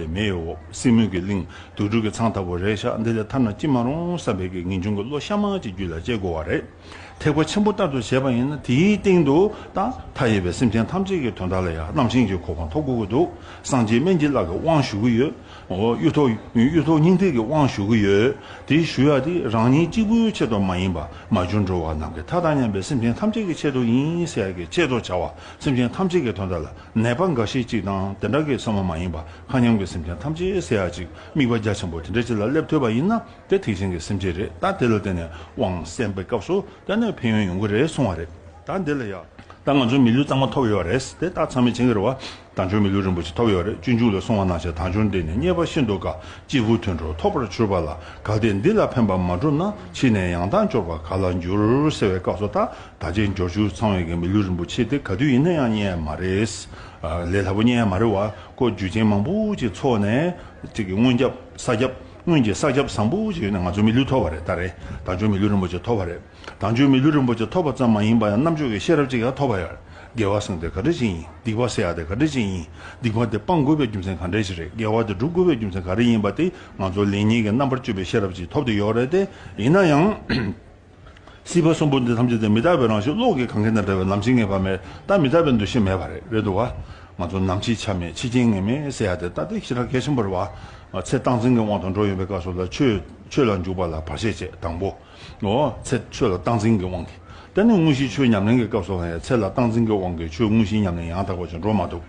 བའི་མེ་ཡི་འོག་སྲིན་མོ་གི་གླིང། དུག་སྦྲུལ་གྱི་ཚང་ཐ་བུ་རེད་ཤག་འདི་ལས་ཐར་ན་ཅི་མ་རུང་བསམ་པའི་གི་ངེ་འབྱུང་གི་བློ་ཤ་མང་གཅིག་རྒྱུད་ལ་སྐྱེ་དགོས་བ་རེད། ཐེག་པ་ཆེན་པོ་ལྟར་དུ་བྱས་པ་ཡིན་ན་དེའི་སྟེང་དུ་ད་ལྟ་ཡོད་པའི་སེམས་ཅན་ཐམས་ཅད་ཀྱི་དོན་དག་ལ་ཡང་རྣམ་ཤེས་ཀྱི་གོ་འཕང་ཐོབ་དགོས་ཀྱི་འདུག་སངས་རྒྱས་སྨན་སྐྱིད་ལགས་ཀྱི་དབང་ཞུ་གི་ཡོད། གཡུ་ཐོག་སྙིང་ཐིག་གི་དབང་ཞུ་གི་ཡོད། དེ་ཞུ་ཡག་དེ་རང་ཉིད་གཅིག་པུའི་ཆེད་དུ་མ་ཡིན་པ་མ་བྱུང་འགྲོ་བ་རྣམས་ཀྱི་མཐའ་དང་མཉམ་པའི་སེམས་ཅན་ཐམས་ཅད་ཀྱི་ཆེད་དུ་ཡིན་ཟེར་ཡག་གི་ཆེད་དུ་བྱ་བ་སེམས་ཅན་ཐམས་ཅད་ཀྱི་དོན་དག་ལ་ནད་པ་འགའ་ཤས་ཅིག་དང་དེ་འདྲ་གེ་སོང་བ་མ་ཡིན་པ་མཁའ་མཉམ་གྱི་སེམས་ཅན་ཐམས་ཅད་བསད་ཡག་ཅིག་དམིགས་པ་རྒྱ་ཆེན་པོ་དེ་འདྲ་ཅིག་ལ་སླེབས་ཐུབ་པ་ཡིན་ན་དེ་ཐེག་ཆེན་གྱི་སེམས་ཅན་རེད་ད་དེ་ལ་བརྟེན་ནས་དབང་གསན་པའི་སྐབས་སུ་དེ་ནས་ཕན་ཡོན་ཡོང་གི་རེད་གསུང་བ་རེད་ད་འདི་ལ་ཡག། ད་ང་ཚོའི་མི་ལུས་གཙང་མ་ཐོབ་ཡོད་རེད་དེ་ད་ཚང་མས་བྱིན་གྱིས་རེ་བ་དང་ཆོས་མི་ལུས་རིན་པོ་ཆེ་ཐོབ་ཡོད་རེད་སྤྱོད་འཇུག་ལ་སོང་བ་ན་ཆེ་ཐང་ཆུང་འདི་ནས་རྙེད་པ་ཤིན་ཏུ་དཀའ་སྐྱེ་རྒུ་མཐུན་འགྲོ་ཐོབ་པར་གྱུར་པ་ལ་དགའ་སྟེ་འདི་ལ་ཕན་པ་མ་བསྒྲུབས་ན་ཕྱིས་ནས་ཡང་དག་འབྱོར་པ་ག་ལ་འགྱུར་ཟེར་བའི་སྐབས་སུ་ད་ད་ཆའི་འབྱོར་ཕྱུག་ཚང་བའི་མི་ལུས་རིན་པོ་ཆེ་དེ་ག་དུས་ཡིན་ན་ཡང་རྙེད་ཡ་མ་རེད། ལས་སླ་པོ་རྙེད་ཡ་མ་རེད་བ་ཀོ་རྒྱུ་ཆེན་མང་པོ་ཅིག་འཚོགས་ནས་ཅིག་གི་སྔོན་ཁྱབ་ས་ཁྱབ་སྔོན་གྱི་ས་ཁྱབ་བཟང་པོ་ཅིག་ཡོད་ན་ང་ཚོའི་མི་ལུས་ཐོབ་བ་རེད་ད་རེད་དང་ཆོས་མི་ལུས་རིན་པོ་ཆེ་ཐོབ་བ་རེད་དང་ཆོས་མི་ལུས་རིན་པོ་ཆེ་ཐོབ་པ་ཙམ་མ་ཡིན་པ་ཡང་རྣམ་དཔྱོད་ཀྱི་ཤེས་རབ་ཅིག་ཡང་ཐོབ་བ་ཡར་དགེ་བ་སྲུང་དེ་ག་འདྲ་ཅིག་ཡིན་སྡིག་པ་སེལ་ཡ་དེ་ག་འདྲ་ཅིག་ཡིན་སྡིག་པ་དེ་སྤང་དགོས་པའི་རྒྱུ་མཚན་ག་འདྲ་ཞིག་རེད་དགེ་བ་དེ་སྒྲུབ་དགོས་པའི་རྒྱུ་མཚན་ག་རེ་ཡིན་པ་དེ་ང་ཚོ་ལེགས་ཉེས་ཀྱི་རྣམ་པར་དཔྱོད་པའི་ཤེས་རབ་ཅིག་ཐོབ་དེ་ཡོད་རེད་དེ་ཡིན་ན་ཡང། སྲིད་པ་གསུམ་པོ་འདི་ཐམས་ཅད་དུ་མི་རྟག་པའི་རང་བཞིན་བློ་གིས་གང་གིས་ན་འདྲ་བའི་ལམ་བྱེད་ངེས་པ་མེད་སྟབས་མི་རྟག་པའི་འདུ་ཤེས་མེད་པ་རེད་དོ། ང་ཚོ་ནམ་འཆི་ཆ་མེད་འཆི་རྐྱེན་ངེས་མེད་ཟེར་ཡག་དེ་ལྟ་སྟེ་ཤི་ར་གས་ཆེན་པོར་བ་ཚེ་སྟངས་འཛིན་གྱི་དབང་དུ་འགྲོ་ཡོང་པའི་སྐབས་སུ་ལ་ཆོས་ལ་འཇུག་པ་ལ་བར་ཆད་བཅས་དང་པོ་བ་ཚེ་ཆོས་ལ་སྟངས་འཛིན་གྱི་དབང་གིས་དེ་ནས་དངོས་གཞིའི་ཆོས་ཉམས་ལེན་གྱི་སྐབས་སུའང་ཡ་ཚེ་ལ་སྟངས་འཛིན་གྱི་དབང་གིས་ཆོས་དངོས་གཞིའི་ཉམས་ལེན་ཡང་དག་པ་ཅིག་འགྲོ་མ་ཐུབ།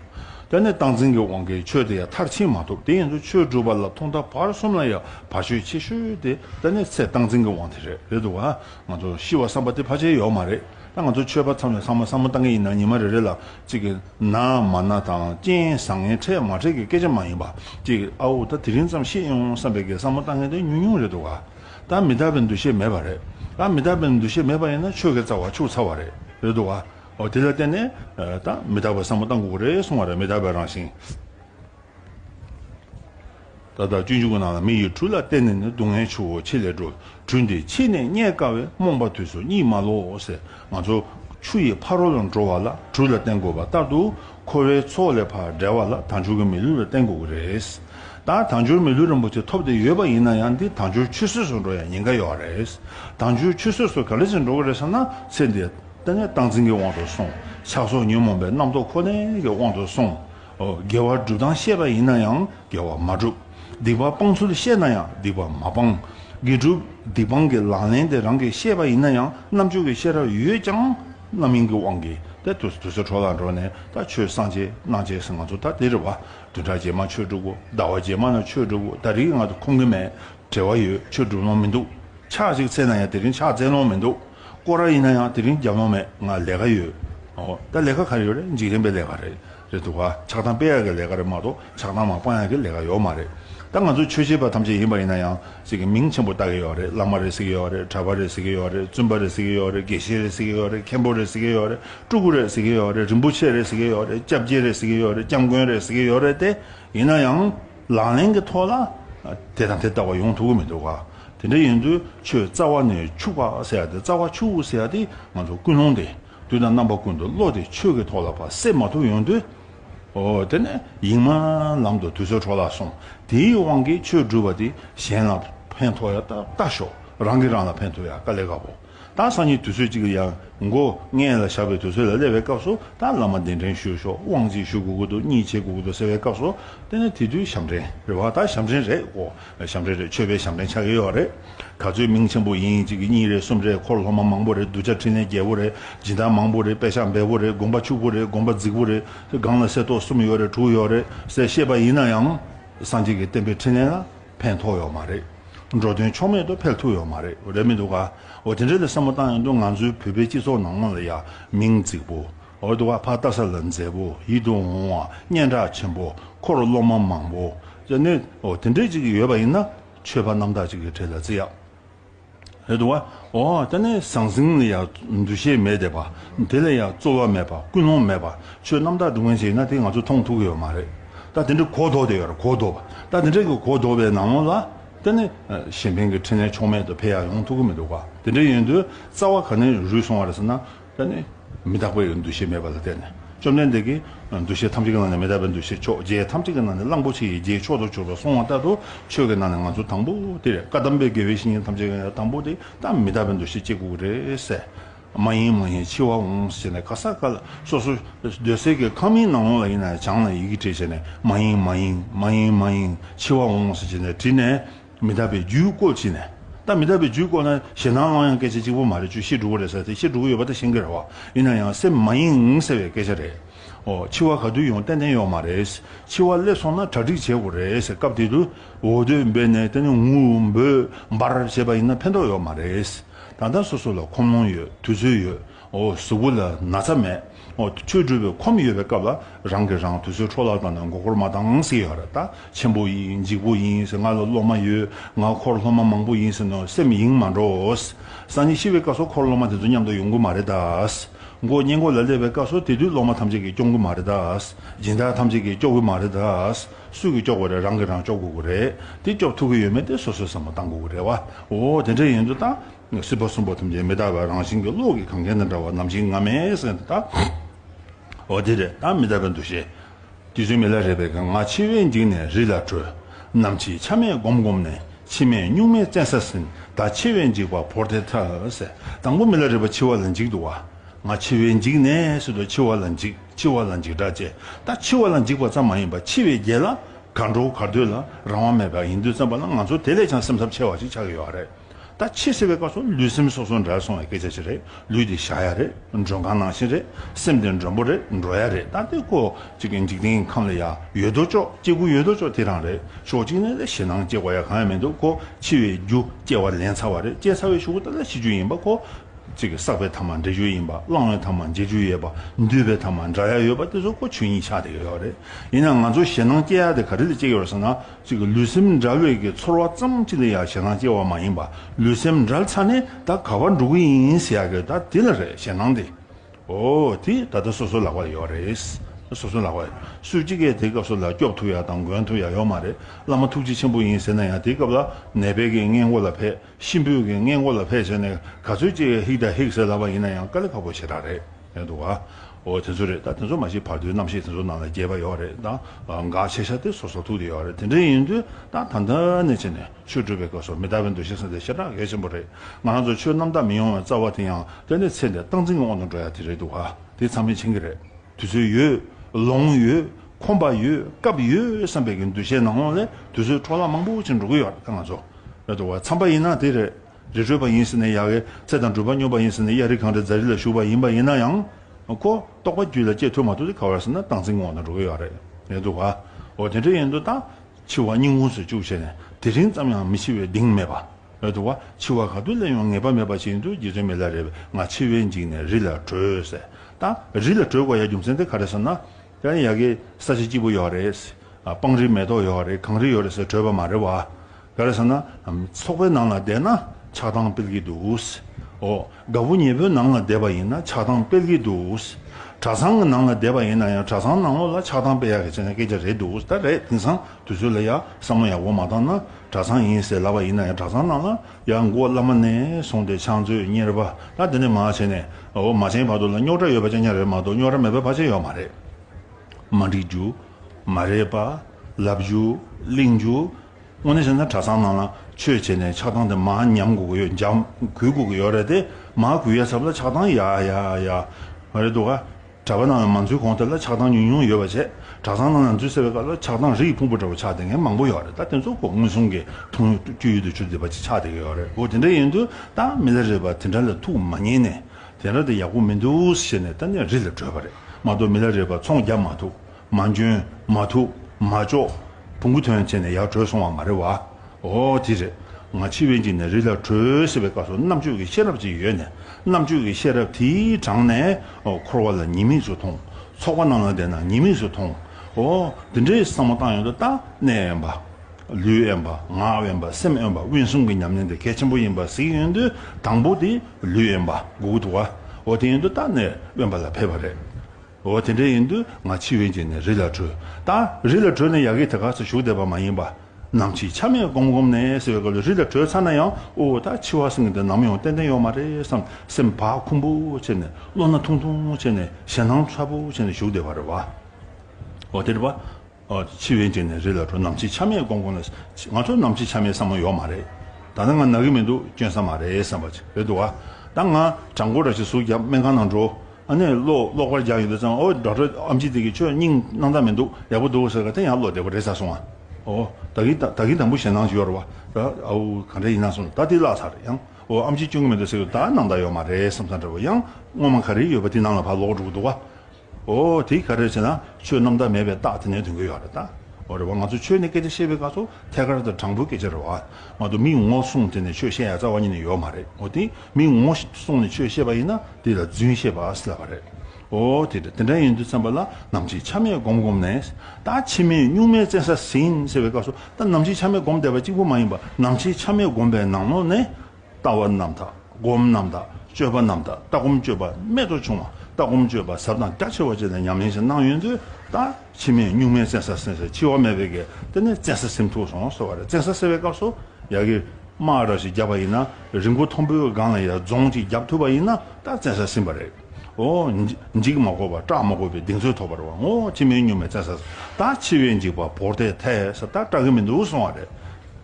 དེ་ནས་སྟངས་འཛིན་གྱི་དབང་གིས་ཆོས་དེ་ཡང་མཐར་ཕྱིན་མ་ཐུབ་དེ་ཡིན་དུ་ཆོས་སྒྲུབ་པ་ལ་ཐོག་མཐའ་བར་གསུམ་ལ་ཡང་བར་གཅོད་ཆེ་ཤོས་ཡོད་དེ་དེ་ནི་ཚེ་སྟངས་འཛིན་གྱི་དབང་དེ་རེད་རེད་འདུག་ང་ཚོ་ཤི་བ་བསམ་པ་དེ་ཕ་ཆེ་ཡོད་མ་རེད་ད་ང་ཚོ་ཆོས་པ་ཚང་མས་ཚང་མ་བསམ་བློ་བཏང་གི་ཡིན་ན་ཉི་མ་རེ་རེ་ལ་གཅིག་གི་ན་མ་ན་དང་རྐྱེན་བཟང་ངན་འཕྲད་མ་འཕྲད་ཀྱི་སྐད་ཆ་མ་ཡིན་པ་གཅིག་ཨ་འོ་ད་དེ་རིང་ཙམ་ཤི་ཡོང་བསམ་པའི་གེ་བསམ་བློ་བཏང་མཁན་དེ་ཉུང་ཉུང་རེད་འདུག་ད་མི་དག་པའི་འདུ་ཤེས་མེད་པ་རེད་ད་མི་དག་པའི་འདུ་ཤེས་མེད་པ་ཡིན་ན་ཆོས་གེ་རྩ་བ་ཕྱུག་ཚར་བ་རེད་རེད་འདུག་འོ་དེ་ལ་བརྟེན་ནས་ད་མི་རྟག་པའི་བསམ་བློ་གཏང་དགོས་ཀྱི་རེད་གསུང་བ་རེད་མི་རྟག་པའི་རང་བཞིན། ད་ལྟ་སྤྱོད་འཇུག་གི་ནང་ལ་མི་ཡི་གྲུ་ལ་བརྟེན་ནས་ནི་སྡུག་བསྔལ་ཆུ་བོ་ཆེ་ལས་འགྲོ་གྲུ་འདི་ཕྱི་ནས་རྙེད་དཀའ་བས་རྨོངས་པ་དུས་སུ་གཉིད་མ་ལོག་ཟེར་ང་ཚོ་ཆུ་ཡི་ཕ་རོལ་ལ་འགྲོ་བ་ལ་གྲུ་ལ་བརྟེན་དགོས་པ་ལྟར་དུ་འཁོར་བའི་ཚོགས་ལས་ཕར་བསྒྲལ་བ་ལ་དལ་འབྱོར་གྱི་མི་ལུས་ལ་བརྟེན་དགོས་ཀྱི་རེད། ད་དལ་འབྱོར་མི་ལུས་རིན་པོ་ཆེ་ཐོབ་ཏེ་ཡོད་པ་ཡིན་ན་ཡང་འདི་དལ་འབྱོར་ཆུད་ཟོས་སུ་འགྲོ་ཡང་ཉེན་ཁ་ཡོད་རེད། དལ་འབྱོར་ཆུད་ཟོས་སུ་ག་ལེ་ཟིག་འགྲོ་གི་རེད་ཟེར་ན་ཚེ་འདི་ལྟ་ངན་སྟངས་འཛིན་གྱི་དབང་དུ་སོང། ཆགས་སོགས་ཉོན་མོངས་པའི་རྣམ་རྟོག་འཁོར་ལེན་གྱི་དབང་དུ་སོང། དགེ་བ་སྒྲུབ་སྟངས་ཤེས་པ་ཡིན་ན་ཡང་དགེ་བ་མ་སྒྲུབ། སྡིག་པ་སྤང་ཚུལ་ཤེས་ན་ཡང་སྡིག་པ་མ་སྤང། དགེ་སྒྲུབ་སྡིག་སྤང་གི་ལག་ལེན་དེ་རང་གིས་ཤེས་པ་ཡིན་ན་ཡང་རྣམ་འབྱོར་གྱི་ཤེས་རབ་ཡོད་ཀྱང་རྣམ་སྨིན་གྱི་དབང་གིས་དེ་དུས་སུ་གྲོགས་ལ་འགྲོགས་ནས་ད་ཆོས་སངས་རྒྱས་གནང་བྱས་ཟེར་ང་ཚོ་ད་དེ་རེད་བ། བདུན་ཕྲག་རྗེས་མ་ཆོས་སྒྲུབ་བོ་ཟླ་བ་རྗེས་མ་ན་ཆོས་སྒྲུབ་བོ་ད་རིགས་ང་ཚོ་ཁོམ་གི་མེད། བྲེལ་བ་ཡོད་ཆོས་སྒྲུབ་ལོང་མི་འདུག་ཕྱག་ཅིག་འཚལ་ན་ཡང་དེ་རིང་ཕྱག་བཙལ་ལོང་མི་འདུག། སྐོར་ར་ཡིན་ན་ཡང་དེ་རིང་རྒྱབ་ལོངས་མེད་ང་ལས་ཀ་ཡོད། ཨོ། ད་ལས་ཀ་ག་རེ་ཡོད་རེད་འཇིག་རྟེན་པའི་ལས་ཀ་རེད་རེད་འདུག་ག་ཆགས་སྡང་སྤེལ་ཡག་གི་ལས་ཀ་རེད་མ་གཏོགས་ཆགས་སྡང་མ་སྤང་ཡག་གི་ལས་ཀ་ཡོད་མ་རེད་ད་ང་ཚོ་ཆོས་བྱེད་པ་ཐམས་ཅད་ཡིན་པ་ཡིན་ན་ཡང་ཟེར་གི་མིང་ཆེན་པོ་བཏགས་གི་ཡོད་རེད་བླ་མ་རེད་ཟེར་གི་ཡོད་རེད་གྲྭ་པ་རེད་ཟེར་གི་ཡོད་རེད་བཙུན་པ་རེད་ཟེར་གི་ཡོད་རེད་དགེ་བཤེས་རེད་ཟེར་གི་ཡོད་རེད་མཁན་པོ་རེད་ཟེར་གི་ཡོད་རེད་སྤྲུལ་སྐུ་རེད་ཟེར་གི་ཡོད་རེད་རིན་པོ་ཆེ་རེད་ཟེར་གི་ཡོད་རེད་སྐྱབས་རྗེ་རེད་ཟེར་གི་ཡོད་རེད་སྐྱབས་མགོན་རེད་ཟེར་གི་ཡོད་རེད་དེ་ཡིན་ན་ཡང། ལག་ལེན་གྱི་ཐོག་ལ་དེ་དང་དེ་ལྟ་བ་ཡོང་ཐུབ་ཀྱི་མི་འདུག་ག་དེ་འདྲ་ཡིན་དུས་ཆོས་རྩ་བ་ནས་ཕྱུག་པ་ཟེར་ཡ་དེ་རྩ་བ་ཕྱུག་ཟེར་ཡ་དེ་ང་ཚོ་ཀུན་སློང་དེ་དུས་དང་རྣམ་པ་ཀུན་ཏུ་བློ་དེ་ཆོས་ཀྱི་ཐོག་ལ་བ་སད་མ་ཐུབ་ཡོང་དུས། ཨོ་དེ་ནས་ཡིག་མ་ལམ་དུ་དུས་ཚོད་འཕྲོ་བརླག་སོང་དེའི་དབང་གིས་ཆོས་སྒྲུབ་པ་དེ་གཞན་ལ་ཕན་ཐོགས་ཡ་ལྟ་ཞོག་རང་གིས་རང་ལ་ཕན་ཐོགས་ཡ་དཀའ་ལས་དཀའ་བོ་ད་སང་ཉིན་དུས་ཚོད་གཅིག་གི་ཡར་མགོ་རྔན་ལ་བཞག་པའི་དུས་ཚོད་ལ་སླེབས་པའི་སྐབས་སུ་ད་བླ་མ་གདན་འདྲེན་ཞུས་ཤོག་དབང་རྩིས་ཞུ་དགོས་ཀྱི་འདུག་གཉིས་བྱེད་དགོས་ཀྱི་འདུག་ཟེར་བའི་སྐབས་སུ་ལྟས་ན་དེ་དུས་ཞབས་འདྲེན་རེད་བ་ད་ཞབས་འདྲེན་རེད་ཨོ་ཞབས་འདྲེན་རེད་ཆོས་པའི་ཞབས་འདྲེན་ཆགས་ཀྱི་ཡོད་རེད་ག་ཚོད་མིང་ཆེན་པོ་ཡིན་གཅིག་གིས་གཉིས་རེད་གསུམ་རེད་འཁོར་ལོ་མ་མང་པོ་རེད་གདུལ་བྱ་འཕྲིན་ལས་རྒྱལ་པོ་རེད་སྦྱིན་བདག་མང་པོ་རེད་དཔེ་ཆ་འབེལ་པོ་རེད་དགོན་པ་ཕྱུག་པོ་རེད་དགོན་པ་རྫིག་པོ་རེད་སྒང་ལ་གསེར་ཏོག་གསུམ་ཡོད་རེད་དྲུག་ཡོད་རེད་ཟེར་ཤེས་པ་ཡིན་ན་ཡང་སངས་རྒྱས་ཀྱི་བསྟན་པའི་འཕྲིན་ལས་ལ་ཕན་ཐོགས་ཡོག་མ་རེད། འགྲོ་དོན་ཕྱོགས་མེད་དུ་འཕེལ་ཐུབ་ཡོག་མ་རེད་རེད་མི་འདུག་ག་འོ་དེ་འདྲའི་ལ་བསམ་བློ་བཏང་ཡོང་དུས་ང་ཚོའི་བོད་པའི་སྤྱི་ཚོགས་ནང་སྔོན་ལ་ཡག་མིང་རྫིག་པོ་འོ་འདུག་ག་ཕ་བལྟ་ས་ལ་མཛེས་པོ་ཡིད་དུ་འོང་བ་སྙན་གྲགས་ཆེན་པོ་འཁོར་སློབ་མ་མང་པོ་ཅེས་ནི་འོ་དེ་འདྲས་ཅིག་ཡོད་པ་ཡིན་ན་ཆོས་པ་རྣམ་དག་ཅིག་གི་གྲས་ལ་རྩི་ཡག། ཧེ་དུ་བ། འོ་ད་ནི་ཟང་ཟིང་ལ་ཡང་འདུ་ཤེས་མེད་དེ་བ། དེ་ལ་ཡང་རྩོལ་བ་མེད་པ་ཀུན་སློང་མེད་པ་ཆོས་རྣམ་དག་སྒྲུབ་མཁན་ཞིག་ཡིན་ན་དེ་ང་ཚོས་མཐོང་ཐུབ་ཀྱི་ཡོད་མ་རེད། ད་དེ་འདྲའི་གོ་ལྡོག་དེ་ཡོད་རེད་གོ་ལྡོག་བ། ད་དེ་འདྲའི་གི་གོ་ལྡོག་བའི་ནང་ལོགས་ལ་ད་ནི་གཞན་ཕན་གྱི་འཕྲིན་ལས་ཕྱོགས་མེད་དུ་འཕེལ་ཡང་ཡོང་ཐུབ་ཀྱི་མི་འདུག་ག་དེ་འདྲའི་ཡོད་དུས་རྩ་བ་ག་ནས་རུལ་སོང་བ་རེད་ཟེར་ན། བརྟེན་ནས་མི་རྟག་པའི་འདུ་ཤེས་མེད་པ་ལ་བརྟེན་ནས་བཅོམ་ལྡན་འདས་ཀྱིས་འདུ་ཤེས་ཐམས་ཅད་ཀྱི་ནང་ནས་མི་རྟག་པའི་འདུ་ཤེས་མཆོག་བརྒྱད་ཐམས་ཅད་ཀྱི་ནང་ནས་གླང་པོ་ཆེ་ཡི་རྗེས་མཆོག་ཏུ་གྱུར་པ་གསུངས་བ་ལྟར་དུ་ཆོས་ཀྱི་ནང་ནས་ང་ཚོ་དང་པོ་དེ་རེད་བཀའ་གདམས་པའི་དགེ་བའི་བཤེས་གཉེན་ཐམས་ཅད་ཀྱི་དང་པོ་དེ་ལྟར་མི་རྟག་པའི་འདུ་ཤེས་སྐྱེ་དགོས་རེད་ཟེར། མ་ཡིན་མ་ཡིན་འཆི་བ་འོང་ཟེར་ནས་ག་ས་ག་ལ་སོ་སོ་སྡོད་གསལ་གྱི་ཁང་མིག་ནང་ལ་ཡིན་ན་བྱང་ལ་ཡི་གེ་བྲིས་བྱས་ནས་མ་ཡིན་མ་ཡིན་མ་ཡིན་མ་ཡིན་འཆི་བ་འོང་ཟེར་བྱས་ནས་བྲིས་ནས། མི་དག་པའི་རྒྱུའི་སྐོར་ཅི་ནས་ད་མི་དག་པའི་རྒྱུའི་སྐོར་ན་ཞེ་སྡང་བླང་ཡང་སྐད་ཆ་གཅིག་པོ་མ་རེད་ཆུ་ཤེལ་འབྲུག་ག་རེད་ཟེར་དེ་ཤེལ་འབྲུག་ཡོད་པ་དང་ཤིང་གི་ར་བ་ཡིན་ན་ཡང་སེམས་མ་ཡིན་ཟེར་བའི་སྐད་ཆ་རེད་ཨོ་འཆི་བ་ག་དུས་ཡོང་ཏན་ཏན་ཡོང་མ་རེད་འཆི་བ་སླེབས་སོང་ན་གྲ་སྒྲིག་བྱེད་དགོས་རེད་ཟེར་སྐབས་དེ་དུས་འོ་དོད་འབེལ་ནས་དེ་ནས་ངུ་འབོད་འབར་བྱེད་པ་ཡིན་ན་ཕན་ཐོག་ཡོད་མ་རེད་ད་ལྟ་སོ་སོ་ལ་ཁོམ་ལོང་ཡོད་དུས་ཚོད་ཡོད་ཨོ་གཟུགས་པོ་ལ་ན་ཚ་མེད། ཆོས་སྒྲུབ་པའི་ཁོམ་ཡོད་པའི་སྐབས་ལ་རང་གིས་རང་དུད་ཚོད་འཕྲོ་བརླག་དང་ན་མགོ་སྐོར་མ་དང་ཟེར་ཡོད་ར་ད་ཆེན་པོ་ཡིན་འཇིགས་པོ་ཡིན་ཟེར་ང་ལ་སློབ་མ་ཡོད་ང་འཁོར་སློབ་མ་མང་པོ་ཡིན་ཟེར་ནོ་སེམས་གཡེང་མ་འགྲོ་སང་ཉིན་ཤི་བའི་སྐབས་སུ་འཁོར་སློབ་མ་དེ་ཚོ་མཉམ་དུ་ཡོང་གི་མ་རེད་མགོ་བསྙེན་བཀུར་ལ་སླེབས་པའི་སྐབས་སུ་དེ་དུས་སློབ་མ་ཐམས་ཅད་ཀྱིས་སྐྱོང་གི་མ་རེད་སྦྱིན་བདག་ཐམས་ཅད་ཀྱིས་སྐྱོབ་གི་མ་རེད་སུ་གིས་སྐྱོབ་དགོས་རེད་རང་གིས་རང་སྐྱོབ་དགོས་ཀྱི་རེད་དེ་སྐྱོབ་ཐུབ་ཀྱི་ཡོད་མེད་དེ་སོ་སོས་བསམ་བློ་གཏང་དགོས་ཀྱི་རེད་བ་འོ་དེ་འདྲ་ཡིན་དུས་ད་སྲིད་པ་གསུམ་པོ་ཐམས་ཅད་མི་རྟག་པའི་རང་བཞིན་གྱི་བློ་གིས་གང་གཱའི་ན་འདྲ་བ་ནམ་ཞིག་ང་མེད་ཟེར་ན་དག་འོ་དེ་རེད་དམ་མི་རྟག་པའི་འདུ་ཤེས་དེ་ཚོའི་མི་ལ་རེ་བའི་གི་ང་འཆི་བས་འཇིགས་ནས་རི་ལ་བྲོས། ནམ་འཆི་ཆ་མེད་བསྒོམ་བསྒོམ་ནས་འཆི་མེད་གཉུག་མའི་བཙན་ས་ཟིན་ད་འཆི་བས་འཇིགས་པ་བོར་ཏེ་ཐལ། དང་པོ་མི་ལ་རེ་བ་འཆི་བ་ལ་འཇིགས་འདུག་བ། ང་འཆི་བས་འཇིགས་ནས་སྲིད་དུ་འཆི་བ་ལ་འཇིགས་འཆི་བ་ལ་འཇིགས་སྒྲ་བཅས་ད་འཆི་བ་ལ་འཇིགས་པ་ཙམ་མ་ཡིན་པར་འཆི་བའི་རྒྱལ་ལ་གར་འགྲོ་གར་སྡོད་ལ་རང་དབང་མེད་པ་ཡིན་དུས་བརྩམས་པ་ན་ང་ཚོ་དེ་ལས་ཀྱང་སེམས་འཚབ་ཆེ་བ་ཞིག་ཆགས་ཀྱི་ཡོད་རེད། ད་ཁྱེད་ཟེར་བའི་སྐབས་སུ་ལུས་སེམས་སོ་སོ་འདྲ་སོང་བའི་སྐད་ཆ་ཞིག་རེད་ལུས་དེ་བཞག་ཡ་རེད་མགྲོན་ཁང་ནང་བཞིན་རེད་སེམས་དེ་མགྲོན་པོ་རེད་འགྲོ་ཡ་རེད་ད་ལྟའི་ཁོ་གཅིག་གི་འཇིག་རྟེན་ཁམས་ལ་ཡ་ཡོད་དོ་ཅོག་སྐྱེ་དགུ་ཡོད་དོ་ཅོག་དེ་རང་རེད་ཕྱོགས་གཅིག་ནས་ལ་ཞེད་སྣང་སྐྱེ་དགོས་ཡ་གང་ཡང་མི་འདུག་ཁོ་འཆི་བའི་རྒྱུ་སྐྱེ་བ་ལེན་ཚར་བ་རེད་སྐྱེ་ཚར་བའི་ཤུགས་ལ་ལ་ཤི་རྒྱུ་ཡིན་པ་ཁོ་གཅིག་གི་བསགས་པའི་ཐ་མ་འདྲེ་རྒྱུ་ཡིན་པ་བླང་བའི་ཐ་མ་འཇལ་རྒྱུ་ཡོད་པ་འདུས་པའི་ཐ་མ་འདྲ་ཡ་ཡོད་པ་དེ་ཚོ་ཁོ་ཆོས་ཉིད་ཆགས་བསྡད་ཀྱི་ཡོད་རེད་ཡིན་ན་ང་ཚོ་ཞེད་སྣང་སྐྱེ་ཡ་དེ་ག་རེ་ལས་སྐྱེ་ཡོད་ཟེར་ན། གཅིག་ལུས་སེམས་འདྲ་བས་ཀྱི་ཚོར་བ་ཙམ་གཅིག་ནི་ཡ་ཞེ་སྣང་སྐྱེ་བ་མ་ཡིན་པ་ལུས་སེམས་འདྲ་ཚ་ནས་ད་ག་བར་འགྲོ་གི་ཡིན་ཟེར་ཡག་གི་ད་དེ་ལ་རེད་ཞེ་སྣང་དེ། འོ་དེ་ད་ལྟ་སོ་སོའི་ལག་པ་ལ་ཡོད་རེད། སོ་སོའི་ལག་པ་སུས་ཅི་སྐད་དེ་སྐབས་སུ་ལ་སྐྱོབ་ཐུབ་ཡག་དང་འགོན་ཐུབ་ཡག་ཡོད་མ་རེད་བླ་མ་ཐུགས་རྗེ་ཆེན་པོ་ཡིན་ཟེར་ན་ཡང་དེ་སྐབས་ལ་ནད་པའི་གི་སྔས་མགོ་ལ་ཕེབས། གཤིན་པོའི་གིང་ངའི་མགོ་ལ་ཕེབས་ཟེར་ནས་ག་ཚོད་ཅིག་ཧིག་ཧིག་དང་ཧིག་ཟེར་ལབ་པ་ཡིན་ན་ཡང་དཀའ་ལས་ཁག་པོ་ཆེ་དྲགས་རེད་འདུག་ག། འོ་དེ་ཚོ་རེད་ད་དེ་ཚོ་མ་ཤེས་བར་དུའི་རྣམ་ཤེས་དེ་ཚོ་ནང་ལ་རྒྱས་པ་ཡོད་རེད་ད། འགག་ཆེ་ཤ་སྟེ་སོ་སོར་ཐུག་དེ་ཡོད་རེད་དེ་འདྲ་ཡིན་དུས་ད་ད་ལྟ་ནས་བྱས་ནས་ཆོས་སྒྲུབ་པའི་སྐབས་སུ་མི་དག་པའི་འདུ་ཤེས་ཟེར་དེ་ཤ་སྟག་གལ་ཆེན་པོ་རེད་ང་རང་ཚོ་ཆོས་རྣམ་དག་མི་ཡོང་བའི་རྩ་བ་དེ་ཡང་གཏན་ནས་ཚེ་འདས་སྟངས་འཛིན་གྱི་དབང་དུ་འགྲོ་ཡ་དེ་རེད་འདུག་ག་དེ་ཚང་མས་མཁྱེན་གྱི་རེད། དུས་ཚོད་ཡོད། ལོང་ཡོད། ཁོམ་པ་ཡོད། སྐབས་ཡོད་བསམ་པའི་གི་འདུ་ཤེས་ནང་ལོགས་ལས་དུས་ཚོད་འཕྲོ་བརླག་མང་པོ་བྱེད་འགྲོ་གི་ཡོད་རེད་ད་ང་ཚོ། རེད་དོ། འཚམས་པ་ཡིན་ན་དེ་རེད། རི་ཁྲོད་པ་ཡིན་ཟེར་ནས་ཡག་གི་ཚེ་དང་འགྲུལ་པ་སྨྱོན་པ་ཡིན་ཟེར་ནས་གཡའ་རི་གངས་རི་རྫ་རི་ལ་ཞུགས་པ་ཡིན་པ་ཡིན་ན་ཡང། ཁོ་རྟོགས་པ་རྒྱུད་ལ་སྐྱེས་ཐུབ་མ་ཐུབ་དེ་ག་བར་ཟེར་ན་སྟངས་འཛིན་ངོགས་ན་འགྲོ་གི་ཡོད་རེད། རེད་འདུག་ག། འོ་དེ་འདྲ་ཡིན་དུ་ད། འཆི་བ་སྙིང་ཁུངས་སུ་བཅུག་བྱས་ནས་དེ་རིང་ཙམ་ཡང་མི་འཆི་བའི་གདེང་མེད་པ། ཨེ་དུ་བ། འཆི་བ་ག་དུས་སླེབས་ཡོང་ངེས་པ་མེད་པ་ཞིག་ཡིན་དུས་རྗེ་བཙུན་མི་ལ་རས་པས་ང་འཆི་བས་འཇིགས་ནས་རི་ལ་བྲོས། ཟེར། དང། རི་ལ་བྲོས་དགོས་ཡ་རྒྱུ་མཚན་དེ་ག་རེད་ཟེར་ན། དེ་ཡང་ཡ་གི་ས་ཆ་སྐྱིད་པོ་ཡོད་རེད། སྤང་རིའི་མེ་ཏོག་ཡོད་རེད་གངས་རི་ཡོད་རེད་ཟེར་བྲོས་པ་མ་རེད་བ། ག་རེད་ཟེར་ན། ཚོགས་པའི་ནང་ལ་བསྡད་ན་ཆགས་སྡང་སྤེལ་གྱི་འདུག། ཨོ། དགའ་བོ་ཉེ་བོའི་ནང་ལ་བསྡད་པ་ཡིན་ན་ཆགས་སྡང་སྤེལ་གྱི་འདུག། གྲྭ་ཚང་གི་ནང་ལ་བསྡད་པ་ཡིན་ན་ཡང་གྲྭ་ཚང་ནང་ལོགས་ལ་ཆགས་སྡང་སྤེལ་ཡ་གི་ཆེ་ན་སྐད་ཆ་རེད་འདུག་ད་རེད་དེང་སང། དུས་ཚོད་ལ་ཡང་བསམ་བློ་ཡག་པོ་མ་བཏང་ན་གྲྭ་ཚང་ཡིན་ཟེར་ལབ་པ་ཡིན་ན་ཡང་གྲྭ་ཚང་ནང་ལ་ཡང་མགོ་བླ་མ་ནས་བཟུང་སྟེ་ཕྱག་མཛོད་གཉེར་པ་ལ་དེ་ནས་མ་བྱས་ནས་འོ་མ་བྱས་བར་དུ་ལ་རྙོག་དྲ་ཡོད་པ་ཅན་ཀྱང་རེད་མ་གཏོགས་རྙོག་དྲ་མེད་པའི་བར་ཆད་ཡོད་མ་རེད། མ་འགྲིག་རྒྱུ་མ་རེད་པ་ལབ་རྒྱུ་གླེང་རྒྱུ་དངོས་གནས་བཤད་ན་གྲྭ་ཚང་ནང་ལ་ཆོས་བྱས་ནས་ཆགས་སྡང་དེ་མ་ཉམས་དགོས་ཀྱི་ཡོད་འཇམ་གུས་དགོས་ཀྱི་ཡོད་རེད་དེ་མ་གུས་ཡ་ཚ་བ་ལ་ཆགས་སྡང་ཡ་ཡ་ཡ་རེད་འདུག་ག། གྲྭ་པ་རྣམས་ཡང་མང་ཚོའི་གོང་དེ་ལ་ཆགས་སྡང་ཉུང་ཉུང་ཡོད་པ་བྱས། གྲྭ་ཚང་ནང་ཡང་འཛུལ་ཟེར་བའི་སྐབས་ལ་ཆགས་སྡང་རི་ཡི་ཕུང་པོ་འདྲ་བོ་ཆགས་དེ་ངས་མང་པོ་ཡོད་རེད་ད་དེ་ཚོ་ཁོ་ངོས་བཟུང་གིས་ཐུང་ཡུལ་དུ་སྐྱོད་ཡུལ་དུ་བྱུར་བསྡད་པ་ཅིག་ཆགས་དེ་ག་ཡོད་རེད་འོ་དེ་འདྲ་ཡིན་དུས་ད་མི་ལ་རེ་བ་དེ་འདྲ་ལ་ཐུག་མ་ཉེས་ནས་དེ་འདྲ་དེ་ཡག་པོ་མི་འདུག་ཟེར་ནས་ད་ནས་རི་ལ་བྲོས་པ་རེད་མ་གཏོགས་མི་ལ་རེ་བ་ཚོང་རྒྱབ་མ་ཐུབ་མ་འཇོན་མ་ཐུབ་མ་ལྕོགས་བུ་གུ་དོན་བྱས་ནས་ཡར་བྲོས་སོང་བ་མ་རེད་བ། ཨོ་དེ་རེད། ང་ཕྱི་བོན་གྱི་ནས་རི་ལ་བྲོས་ཟེར་བའི་སྐབས་སུ་གནམ་ཆོས་ཀྱི་ཤེས་རབ་ཅིག་ཡོད་ནས་གནམ་ཆོས་ཀྱི་ཤེས་རབ་དེའི་དྲང་ནས་འཁོར་བ་ལ་ཉེས་དམིགས་སུ་མཐོང། ཚོགས་པ་རྣམས་ལ་བསྡད་ན་ཉེས་དམིགས་སུ་མཐོང། ཨོ། འདི་འདྲའི་བསམ་བློ་བཏང་ཡོང་དུ་བཏང་ནས་དབེན་པ། ལུས་དབེན་པ་ངག་དབེན་པ་སེམས་དབེན་པ་དབེན་གསུམ་གྱི་ཉམས་ལེན་དེ་གལ་ཆེན་པོ་ཡིན་པ་གཟིགས་ཡོང་དུས་དང་པོ་དེ་ལུས་དབེན་པ་དགུ་དགུ་འདུག་ཨོ་དེ་ཡོང་དུ་བཏང་ནས་དབེན་པ་ལ་ཕེབས་པ་རེད། འོ་དེ་འདྲ་ཡིན་དུས་ང་ཕྱི་བོན་གྱི་ནས་རི་ལ་བྲོས་དང་རི་ལ་བྲོས་ནས་ཡ་གི་དེ་ག་སོ་བཞུགས་བསྡད་པ་མ་ཡིན་པ། ནམ་ཕྱིས་ཆ་མེད་སྒོམ་སྒོམ་ནས་ཟེར་བའི་སྐབས་ལ་རི་ལ་བྲོས་ཚར་ན་ཡང་ཨོ་ད་ཕྱི་བར་གསུམ་གྱི་འདི་ནམ་ཡང་ཏན་ཏན་ཡོང་མ་རེད་བསམ་སེམས་བག་འཁུམ་པོ་བྱས་ནས་བློ་སྣ་ཐུང་ཐུང་བྱས་ནས་ཞེད་སྣང་ཚ་པོ་བྱས་ནས་བཞུགས་བསྡད་པ་རེད་བ། འོ་དེ་རེད་བ། ཕྱི་བས་འགྱེལ་ནས་རི་ལ་འགྲོ་ནམ་ཕྱིན་ཆ་མེད་ཀོང་ཀོང་ལ། ང་ཚོ་ནམ་ཕྱིན་ཆ་མེད་བསམ་བློ་ཡོག་མ་རེད། ད་ནི་ང་ན་གི་མི་འདུག་སྐྱོན་ས་མ་རེད་བསམ་པ་ཅིག་རེད་འདུག་བ། ད་ང་བྲང་གོར་ར་ཞིག་ཟུག་བརྒྱབ་སྨན་ཁང་ནང་འགྲོ། ཨ་ནེ་བློ་ལོག་པར་རྒྱག་ཡོད་དུས་སམ་ཨོ་དགྲ་བྲོ་ཨ་མཆིས་དེ་གི་ཆོས་སྙིང་སྣང་དག་མི་འདུག་ལེགས་པོ་འདུག་ཟེར་ག་དེ་ཡང་བློ་བདེ་པོ་རེད་ས་སོང་བ། ཨོ། ད་གི་ད་གི་དང་པོ་ཞེད་སྣང་ཞིག་ཡོར་བ། ད་ཨོ་ག་འདྲ་ཡིན་ན་སོང་ད་དེ་བརླག་ཚར་ཡང་ཨོ་ཨ་མཆིས་སྐྱོན་གི་མི་འདུག་ཟེར་གི་ད་སྣང་དག་ཡོག་མ་རེད་བསམ་ས་འདྲ་བ་ཡང་སྔོན་མ་ག་རེ་ཡོད་པ་དེ་ནང་ལ་བ་ལོག་འགྲོ་གི་འདུག་བ། ཨོ། དེ་ག་རེ་བྱས་ན་ཆོས་རྣམ་དག་མེད་པའི་རྟགས་དེ་ནས་དོན་གོ་ཡོད་རེད་ད། ཨོ་རེད་བ་ང་ཚོ་ཆོས་ནི་སྐད་ཆ་བཤད་པའི་སྐབས་སུ་ཐད་ཀར་དང་དྲང་པོའི་སྐད་ཆ་རེད་བ། ང་ཚོ་མིག་ངོ་བསྲུང་དེ་ནས་ཆོས་བཤད་ཡ་ཙ་བ་གཉིས་ནི་ཡོད་མ་རེད་ཨོ་དེ་མིག་ངོ་བསྲུང་ནས་ཆོས་བཤད་པ་ཡིན་ན་དེ་ལ་རྫུན་བཤད་པ་ཟེར་བ་རེད་ཨོ་དེ་རེད་དེ་འདྲ་ཡིན་དུས་ཚན་པ་ལ་ནམ་ཕྱེད་ཆ་མེད་སྒོམ་སྒོམ་ནས་ད་ཕྱི་མའི་སྨྱུག་མའི་བཙན་ས་ཟིན་ཟེར་བའི་སྐབས་སུ་ད་ནམ་ཕྱེད་ཆ་མེད་སྒོམ་བསྡད་པ་གཅིག་པུ་མ་ཡིན་པ་ནམ་ཕྱེད་ཆ་མེད་སྒོམ་པའི་ནང་ནོར་ནས་ལྟ་བ་རྣམས་དག་སྒོམ་རྣམས་དག་སྤྱོད་པ་རྣམས་དག་ལྟ་སྒོམ་སྤྱོད་པ་རྨད་དུ་བྱུང་བ་ལྟ་སྒོམ་སྤྱོད་པ་ཟབ་དང་རྒྱ་ཆེ་བ་བྱས་ནས་ཉམས་ལེན་ཞིག་གནང་ཡོད་ཚུལ་དང་ཕྱི་མས་གཉུག་མའི་བཙན་ས་སེམས་སེ་འཆི་བ་མེད་པའི་གེ་དེ་ནས་བཙན་ས་སེམས་ཐུག་སོང་ཟེར་བ་རེད་བཙན་ས་སེར་བའི་སྐབས་སུ་ཡ་གི། མ་ར་ཞིག་བརྒྱབ་པ་ཡིན་ན་རིང་པོ་ཐོམ་བུའི་སྒང་ལ་ཡ་རྫོང་ཅིག་བརྒྱབ་ཐུབ་པ་ཡིན་ན་ད་བཙན་ས་ཟིན་པ་རེད་འོ། འཇིགས་མ་དགོས་པར་སྐྲག་མ་དགོས་པའི་གདེང་ཚོད་ཐོབ་པར་བ་ངོ་ཕྱི་མའི་གཉུག་མའི་བཙན་ས་ད་འཆི་བའི་འཇིགས་པ་བོར་ཏེ་ཐལ་ས་ད་སྐྲག་གི་མི་འདུག་སོང་བ་རེད།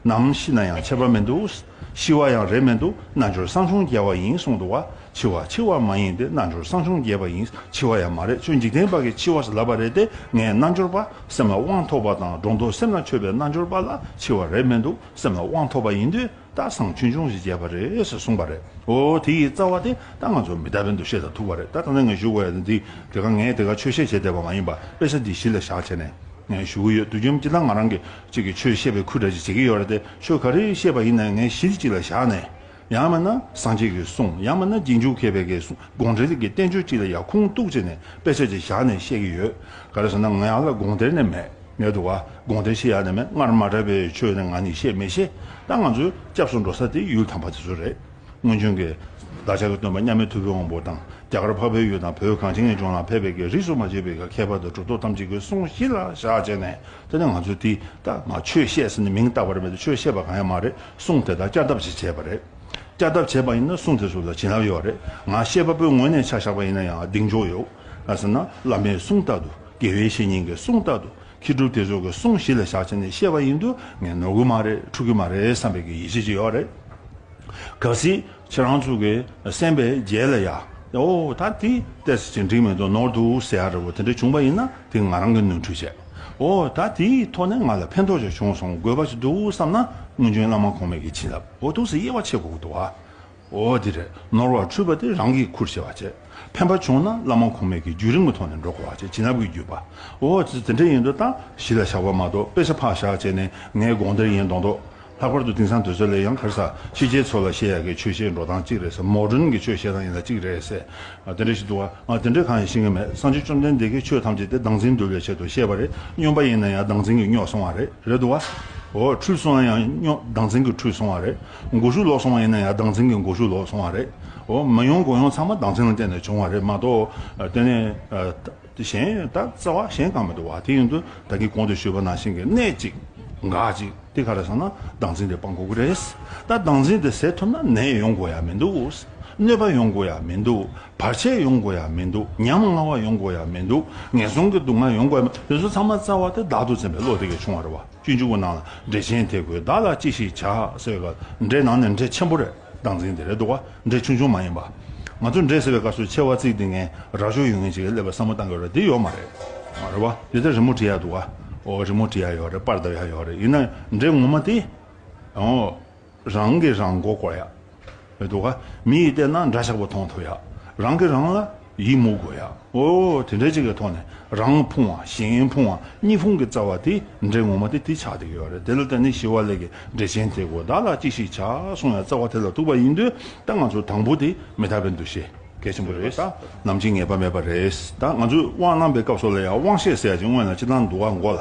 ནམ་ཤི་ན་ཡང་ཆད་པ་མི་འདུག། ཤི་བ་ཡང་རེད་མི་འདུག་རྣལ་འབྱོར་སྲང་ཆུང་རྒྱལ་བ་ཡིན་གསུང་འདུག་བ། འཆི་བ་འཆི་བ་མ་ཡིན་ཏེ་རྣལ་འབྱོར་སྲང་ཆུང་རྒྱལ་བ་ཡིན་འཆི་བ་ཡང་མ་རེད་ཁྱོད་འཇིག་རྟེན་པ་གི་འཆི་བ་ལབ་པ་རེད་དེ་ངས་རྣལ་འབྱོར་པ་སེམས་ལ་དབང་ཐོབ་པ་དང་སྒྲོ་འདོགས་སེམས་ལ་ཆོད་པའི་རྣལ་འབྱོར་པ་ལ་འཆི་བ་རེད་མི་འདུག་སེམས་ལ་དབང་ཐོབ་པ་ཡིན་དུས་ད་སང་ཆུང་ཆུང་ཞིག་རྒྱལ་བ་རེད་ཟེར་གསུངས་པ་རེད་འོ་དེ་ཡི་རྩ་བ་དེ་ད་ང་ཚོ་མི་ད་པའི་འདུ་ཤེས་དང་ཐུག་པ་རེད་ད་ད་ནས་ངས་ཞུ་དགོས་ཡ་འདི་དེ་ག་ངས་དེ་ག་ཆོས་བཤད་བྱེད་བསྡད་པ་མ་ཡིན་པ་དཔེ་ཆ་འདི་གཞི་ལ་བཞག་བྱས་ནས་ཞུ་གི་ཡོད་དུས་ཁྱིམ་སྤྱི་དང་ང་རང་གི་གཅིག་གིས་ཆོས་བཤད་པའི་ཁུལ་འདྲ་ཅིག་བྱེད་ཀྱི་ཡོད་རེད་དེ་ཆོས་ག་རེ་བཤད་པ་ཡིན་ནའི་ངའི་གཞི་གཅིག་ལ་བཞག་ནས། ཡང་མིན་ན་སངས་རྒྱས་ཀྱིས་གསུངས་ཡང་མིན་ན་རྗེས་འཇུག་མཁས་པའི་གསུང་དགོངས་འགྲེལ་གྱི་བསྟན་བཅོས་གཅིག་ལ་ཡར་ཁུངས་གཏུགས་བྱས་ནས་དཔེ་ཆ་གཅིག་བཞག་ནས་བཤད་ཀྱི་ཡོད། ག་རེ་ཟེར་ན་ང་ཡང་ལ་དགོངས་དེར་ནས་མེད་མེད་འདུག་ག་དགོངས་དེ་ཤེས་ཡག་ནས་མེད་སྔར་མ་གྲགས་པའི་ཆོས་ནི་ང་ནི་བཤད་མི་ཤེས་ད་ང་ཚོས་སྐྱབས་སུ་འགྲོ་ས་དེ་ཡུལ་དམ་པ་དེ་ཚོ་རེད། སྔོན་བྱོན་གྱི། བདག་ཅག་གི་སྟོན་པ་མཉམ་མེད་ཐུབ་པའི་དབང་པོ་དང། རྒྱ་གར་འཕགས་པའི་ཡུལ་དང་བོད་གངས་ཅན་གྱི་ལྗོངས་ལ་ཕེབས་པའི་གེགས་རིགས་སུ་མ་ཆད་པའི་ག་ཁྱད་པར་དུ་གྲུབ་ཐོབ་ཐམས་ཅད་ཀྱི་གསུང་གཞི་ལ་བཞག་ཅེས་ནས་དེ་ནས་ང་ཚོས་དེ་ལྟ་ང་ཆོས་བཤད་ཟེར་ནས་མིང་བཏགས་པར་མེད་དེ་ཆོས་བཤད་པ་གང་ཡང་མ་རེད་གསུང་དེ་དག་བསྐྱར་ལྡབ་བྱས་བྱས་པ་རེད། བསྐྱར་ལྡབ་བྱས་པ་ཡིན་ན་གསུང་དེ་ཚོ་ལ་བྱིན་རླབས་ཡོད་རེད་ང་བཤད་པ་པོའི་ངོས་ནས་ཆ་བཞག་པ་ཡིན་ན་ཡང་གདེང་འཇོག་ཡོད། ཟེར་ན་བླ་མའི་གསུང་ལྟར་དུ་དགེ་བའི་བཤེས་གཉེན་གྱི་གསུང་ལྟར་དུ། ཁྱི་སྒྲུབ་དེ་ཚོ་གི་གསུང་བཞི་ལ་བཞག་བྱས་ནས་བཤད་པ་ཡིན་དུ་ངས་ནོར་གི་མ་རེད་འཁྲུག་གི་མ་རེད་བསམ་པའི་གི་ཡིད་ཆེས་ཅིག་ཡོད་རེད། གལ་སྲིད་ཁྱེད་རང་ཚོ་གི་སེམས་པའི་རྒྱལ་ལ་ཡ། ཨོ་ད་དེ་བལྟས་ཟེར་གྱི་འགྲིག་མེད་དུ་ནོར་འདུག་ཟེར་ཡ་རེད་བོ་དེ་འདྲ་བྱུང་པ་ཡིན་ན་དེ་ང་རང་གི་ནོར་འཁྲུལ་བྱས། ཨོ་ད་དེའི་ཐོག་ནས་ང་ལ་ཕན་ཐོག་ཅིག་བྱུང་སོང་དགོས་པ་ཅིག་འདུག་བསམ་ན་སྔོན་བྱོན་བླ་མ་གོང་མས་གི་བྱིན་རླབས་འོ་དུག་སེ་དབྱེ་བ་ཕྱེད་དགོས་གི་འདུག་ཨ། འོ་དེ་རེད་ནོར་བ་འཁྲུལ་པ་དེ་རང་གིས་ཁུར་ཆེ་བ་བྱས། ཕན་པ་བྱུང་ན་བླ་མ་ཁུངས་མེད་ཀྱི་རྒྱུད་རིང་མོ་ཐོག་ནས་འགྲོ་དགོས་བ་བྱས་བྱིན་རླབས་ཀྱི་རྒྱུད་པ། འོ་དེ་དེ་འདྲ་ཡིན་འདུག་ད་གཞི་ལ་བཞག་པ་མ་གཏོགས་དཔེ་ཆ་ཕག་བཞག་བྱས་ནས་ངའི་དགོངས་གཏེར་ཡིན་མདོག་མདོག། ལྷག་པར་དུ་དེང་སང་དོལ་ཚོགས་ལས་ཡང་གར་ས་ཤེས་བྱའི་ཚོ་ལ་བཤད་ཡག་གི་ཆོས་བཤད་འགྲོ་སྟངས་གཅིག་རེད་ས་མོ་སྒྲོན་གྱི་ཆོས་བཤད་སྟངས་ཡིན་ལ་གཅིག་རེད་ཟེར། དེ་འདྲ་ཞིག་འདུག་ང་དེ་འདྲའི་གང་ཡང་ཤེས་ཀྱི་མེད་སངས་རྒྱས་བཅོམ་ལྡན་འདས་ཀྱིས་ཆོས་ཐམས་ཅད་དེ་སྡང་འཛིན་འདུལ་བའི་ཆེད་དུ་བཤད་པ་རེད་སྨྱོན་པ་ཡིན་ན་ཡང་སྡང་འཛིན་གྱིས་སྨྱོས་སོང་བ་རེད་རེད་འདུག་བ། འོ་འཁྲུལ་སོང་ན་ཡང་སྨྱོ་སྡང་འཛིན་གྱིས་འཁྲུལ་སོང་བ་རེད། འགོ་ཤུགས་ལོག་སོང་བ་ཡིན་ན་ཡང་སྡང་འཛིན་གྱི་འགོ་ཤུགས་ལོག་སོང་བ་རེད། མི་ཡོང་སྒོ་ཡོང་ཚང་མ་སྡང་འཛིན་ལ་བརྟེན་ནས་བྱུང་བ་རེད་མ་གཏོགས། དེ་ནས། གཞན་ཡོད་ད་རྩ་བ་གཞན་གང་མི་འདུག་བ་དེ་ཡིན་དུས་ད་གིན་གོང་དུ་ཞུས་པ་ནང་བཞིན་གྱི་གནད་ཅིག། འགག་ཅིག་དེ་ག་རེད་སོང་ན་སྡང་འཛིན་དེ་སྤང་དགོས་ཀྱི་རེད། ད་སྡང་འཛིན་དེ་ཟད་ཐུབ་ན་ནད་ཡོང་དགོས་ཡ་མི་འདུག་གནོད་པ་ཡོང་དགོས་ཡ་མི་འདུག་བར་ཆད་ཡོང་དགོས་ཡ་མི་འདུག་ཉམ་ང་བ་ཡོང་དགོས་ཡ་མི་འདུག་ངན་སོང་གི་སྡུག་བསྔལ་ཡོང་དགོས་ཡ་མི་འདུག་དེ་ཚོ་ཚང་མ་རྩ་བ་དེ་བདག་ཏུ་འཛིན་པའི་བློ་དེ་གས་བྱུང་བ་རེད་བ། བཅུ་བཅུ་པོ་ནང་ལ་འབྲས་ཆན་དེ་དགོས་བདག་ལ་ཅི་ཞིག་བྱ་ཟེར་བའི་སྐབས་འབྲས་ནང་ནས་འབྲས་ཆེན་པོ་རེ་བདག་འཛིན་དེ་རེད་འདུག་བ་འབྲས་ཆུང་ཆུང་མ་ཡིན་པ། ང་ཚོས་འབྲས་ཟེར་བའི་སྐབས་སུ་ཆེ་བ་བརྩིགས་ཏེ་ངན་རག་ཤོར་ཡོང་ངེས་ཅིག་སླེབས་པའི་བསམ་བློ་གཏང་དགོས་རེད་དེ་ཡོད་མ་རེད། རེད་བ། འདི་ལྟར་རི་མོ་བྲིས་ཡག་འདུག་བ། འོ་རི་མོ་བྲིས་ཡག་ཡོད་རེད་པར་འདེབས་ཡག་ཡོད་རེད་ཡིན་ན་འབྲས་ངོ་མ་དེ། འོ། རང་གིས་རང་མགོ་སྐོར་ཡག་མི་འདུག་ག། མི་ཡིས་བལྟས་ན་འདྲ་ཆགས་པོ་མཐོང་ཐུབ་ཡག་རང་གིས་རང་ལ་ཡིད་མུག་དགོས་ཡག་ཨོ། དེ་འདྲ་གཅིག་གི་ཐོག་ནས་རང་ཕུང་བ་གཞན་ཕུང་བ་གཉིས་ཕུང་གི་རྩ་བ་དེ་འདྲའི་ངོ་མ་དེ་དེ་ཆགས་ཏེ་ཡོད་རེད་དེ་ལ་བརྟེན་ནས་ཞི་བ་ལས་ཀྱི་འགྲེལ་ཆེན་དེ་གོ་བདག་ལ་ཅི་ཞིག་བྱ་གསུང་བའི་རྩ་བ་དེ་ལ་ཐུག་པ་ཡིན་དུས་ད་ང་ཚོ་དང་པོ་དེ་མི་དག་པའི་འདུ་ཤེས་གལ་ཆེན་པོ་རེད་ད་ནམ་གྱི་ངེས་པ་མེད་པ་རེད་ད་ང་ཚོས་དབང་གནང་པའི་སྐབས་སོགས་ལ་ཡང་དབང་ཤེས་ཟེར་ཡག་ཅིང་སྔོན་ལ་ཅི་གནང་འདུག་ག་མགོ་ལ།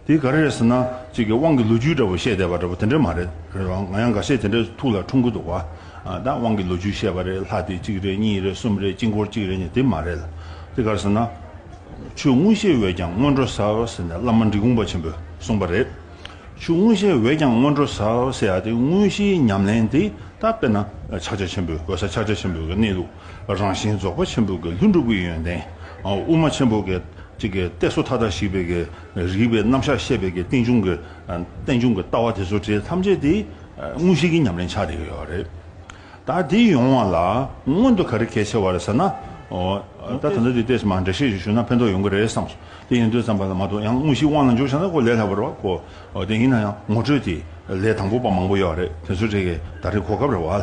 དེ་ག་རེ་རེད་ཟེར་ན་གཅིག་གི་དབང་གི་ལོ་རྒྱུས་འདྲ་བོ་བཤད་བསྡད་པ་འདྲ་བོ་དེ་འདྲ་མ་རེད་རེད་བ་ང་ཡང་འགའ་ཤས་དེ་འདྲ་ཐུགས་ལ་འཁྲུང་གི་འདུག་བ་ད་དབང་གི་ལོ་རྒྱུས་བཤད་པ་རེད་ལྷ་དེ་གཅིག་རེད་གཉིས་རེད་གསུམ་རེད་དཀྱིལ་འཁོར་གཅིག་རེད་གཉིས་དེ་མ་རེད་ལ་དེ་ག་རེ་ཟེར་ན། ཆོས་དངོས་གཞལ་འོས་ཀྱང་སྔོན་འགྲོ་ཟེར་ཟེར་ནས་བླ་མ་འབྲི་གུང་པ་ཆེན་པོས་གསུངས་པ་རེད། ཆོས་དངོས་གཞལ་འོས་ཀྱང་སྔོན་འགྲོ་ཟེར་ཟེར་ཡ་དེ་དངོས་གཞིའི་ཉམས་ལེན་དེ་ད་དཔེར་ན་ཕྱག་རྒྱ་ཆེན་པོའི་འོད་ཟེར་ཕྱག་རྒྱ་ཆེན་པོའི་གནས་ལུགས་རང་བཞིན་རྫོགས་པ་ཆེན་པོའི་ལྷུན་གྲུབ་ཀྱི་ཡོན་ཏན་དབུ་མ་ཆེན་པོ་གཅིག་གཏད་སོ་མཐའ་དག་ཞིག་པའི་རིགས་པའི་རྣམ་གཞག་ཤེས་པའི་གི་རྟེན་འབྱུང་གི། རྟེན་འབྱུང་གི་ལྟ་བ་དེ་ཚོ་དེ་ཐམས་ཅད་དེ། དངོས་གཞིའི་གི་ཉམས་ལེན་ཆགས་རེག་ཡོད་པ་རེད། ད་དེ་ཡོང་བ་ལ་སྔོན་དུ་ག་རེ་གལ་ཆེ་བ་རེད་ཟེར་ན། ད་ད་ནི་དེ་ལྟས་སུ་མ་འདྲེས་ཤེས་ཤིག་ཞུ་ན་ཕན་ཐོགས་ཡོང་གི་རེད་བསམ་སོང། དེ་ཡིན་དུས་བསམ་པ་ལ་མ་གཏོགས་ཡང་དངོས་གཞིའི་དབང་ལ་འཇུག་བྱ་ན་གོ་ལས་སླ་བོ་རེད་བ་གོ། དེ་ཡིན་ན་ཡང་ངོ་སྤྲོད་དེ་ལས་དང་པོ་པ་མང་པོ་ཡོད་རེད་དེ་ཚོ་དེ་གི་ད་རེ་གོ་སྐབས་རེད་བ།